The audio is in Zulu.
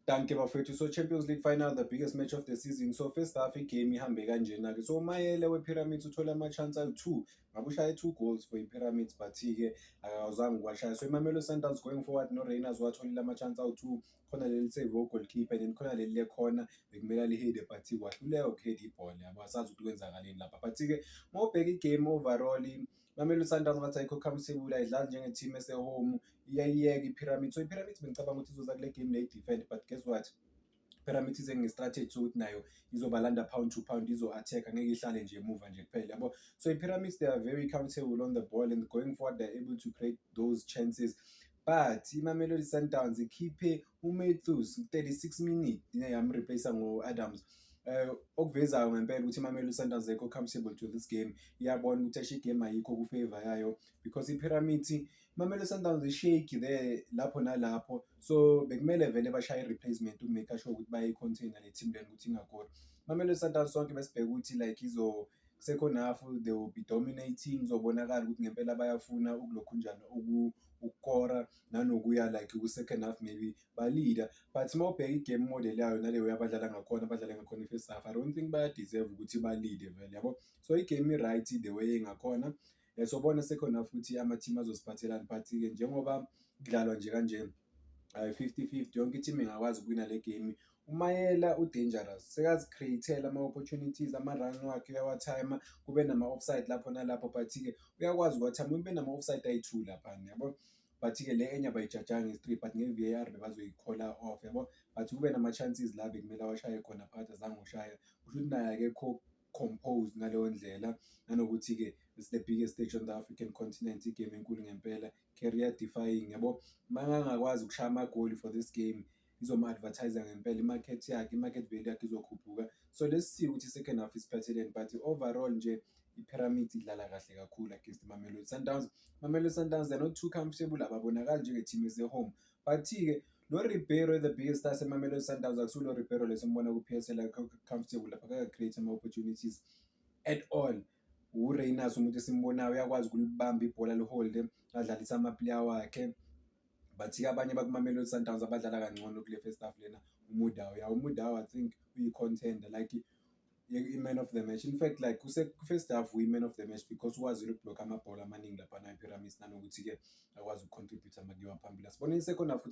Danke bafethu. So Champions League final the biggest match of the season. So first half igame ihambe kanjena ke. So uMayele wePyramids uthole ama chance awu2. Ngabe ushaye 2 goals for iPyramids but ke akazange kwashaya. So iMamelodi Sundowns going forward no Rainers watholile ama chance awu2. Khona leli save goalkeeper then khona leli lekhona bekumela lihede but kwahluleka ukuhead ibhola. Abasazi ukuthi kwenzakaleni lapha. But ke mawubheka igame overall Mamelodi Sundowns bathi ayikho comfortable ayidlali njenge team ese home iyayiyeka iPyramid so iPyramid bengicabanga ukuthi izoza kule game lay defend but guess what Pyramid ize nge strategy sokuthi nayo izobalanda pound to pound izo attack ngeke ihlale nje emuva nje kuphela yabo so iPyramids they are very comfortable on the ball and going forward they are able to create those chances but imamelodi sundowns ikhiphe umathews 36 minute yamreplace ngo-adams eh okuvezayo ngempela ukuthi iMamelodi Sundowns ayikho comfortable to this game iyabona ukuthi ashe game ayikho ku favor yayo because iPyramid iMamelodi Sundowns ishake there lapho nalapho so bekumele vele bashaye replacement ukumake sure ukuthi bayi contain le team leni ukuthi ingakora iMamelodi Sundowns sonke besibheka ukuthi like izo sekhona half they will be dominating uzobonakala ukuthi ngempela bayafuna ukulokhunjana uku ukukora nanokuya like ku-second half maybe balida but uma ubheka i-game model yayo naleyo yabadlala ngakhona badlale ngakhona i-first half i don't think bayadeserve ukuthi balide vele yabo so i-game i-right the way engakhona um eh, sobona second half ukuthi ama-team azosiphathelani but-ke njengoba kudlalwa nje kanjena um fifty fifty yonke i-team ingakwazi ukuwina le game uMayela udangerous sekazi createla ama opportunities ama run wakhe uyawathaima kube nama offside lapho nalapho but ke uyakwazi ukwathama kube nama offside ayi2 lapha yabo but ke le enye bayijajanga is 3 but nge VAR bebazoyikhola off yabo but kube nama chances la bekumele washaye khona phakathi azange ushaya kusho ukuthi naye akekho compose ngaleyo ndlela nanokuthi ke it's the biggest stage on the African continent igame enkulu ngempela career defying yabo mangangakwazi ukushaya amagoli for this game izoma-advertise-a ngempela i-market yakhe i-market value yakhe izokhuphuka so lesi siwu ukuthi second half isiphatheleni but overall nje i-pyramid idlala kahle kakhulu against mamelodi sundowns mamelodi sundowns they're not too comfortable ababonakali njengeteam ese-home but-ke lo ribeiro the biggest star semamelodi sundowns akusulo ribeiro lesombona ku-psl comfortable lapha kaka-create ama-opportunities at all ureyners umuntu esimbonayo uyakwazi ukulibamba ibhola liholde adlalise amaplayer wakhe Bathi-ke abanye bakuMamelodi Sundowns abadlala kangcono kule first half lena uMudau. Ya uMudau I think uyi-contender like i-man of the match. In fact like kuse-first half uyi-man of the match because ukwazile ukubhlokha amabhola amaningi laphana ePyramids nanokuthi-ke akwazi uku-contributor uma kuyiwa phambili. Asiboneni i-second half ukuthi